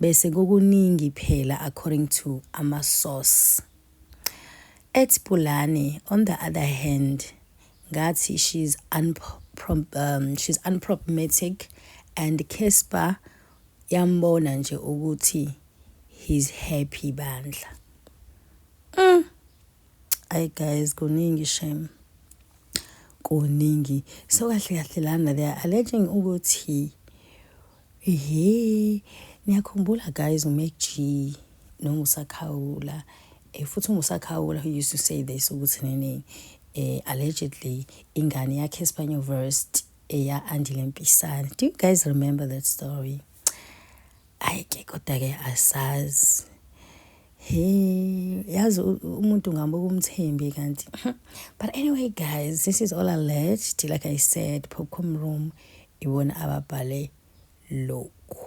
bese kukuningi phela according to ama source. At Pulane on the other hand ngathi she's unprom um, she's unproblematic and Casper yambona nje ukuthi he's happy bandla mm. ay guys kuningi shame kuningi so kahle kahle lana they are alleging ukuthi Yee, niyakhumbula guys uMac G noMusakhawula eh, futhi uMusakhawula who used to say this ukuthi nini eh, allegedly ingane yakhe Espanyol Verst eya Andile Mpisana. Do you guys remember that story? Ayike kodwa-ke asazi Hey, yazi umuntu ngambuka umthembi kanti. But anyway guys, this is all alleged. Like I said, Popcorn Room ibona ababhale lokhu.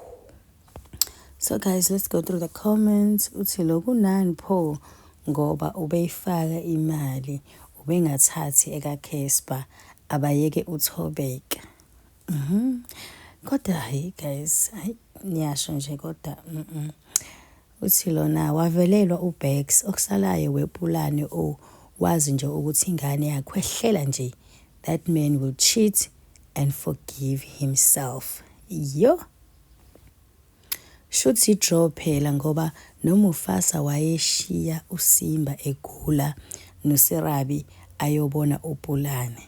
So guys, let's go through the comments. Uthi lokhu nani pho ngoba ubeyifaka imali ubengathathi ekaCasper abayeke uthobeka. Mhm. Mm kodwa hayi guys, hayi niyasho nje kodwa mhm. Mm Uthi lona wavelelwa uBax okusalayo wepulane o wazi nje ukuthi ingane yakhwehlela nje that man will cheat and forgive himself yo shuthi draw phela ngoba nomufasa wayeshiya usimba egula noserabi ayobona upulane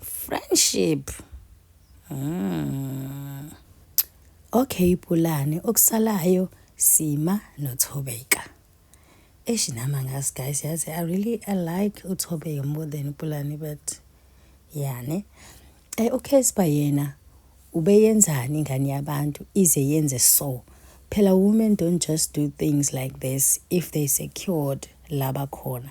Friendship. Mm. Okay Pulane, okusalayo Sima noThobeka. Eish nama ngazi guys yazi I really I like uThobeka more than Pulane but yani. Eh okay siba yena ubeyenzani ingane yabantu ize yenze so. Phela women don't just do things like this if they secured laba khona.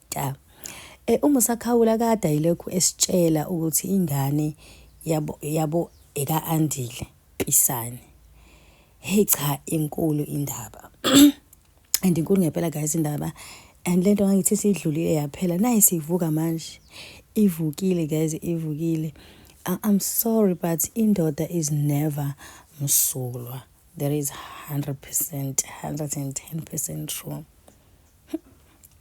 Ta. E, uma usakhawula kade ayilokhu esitshela ukuthi ingane yabo yabo eka Andile Pisane. Hey cha inkulu indaba. and inkulu ngempela guys indaba and lento ngangithi sidlulile yaphela naye sivuka manje ivukile guys ivukile i'm sorry but indoda is never msulwa there is 100% 110% true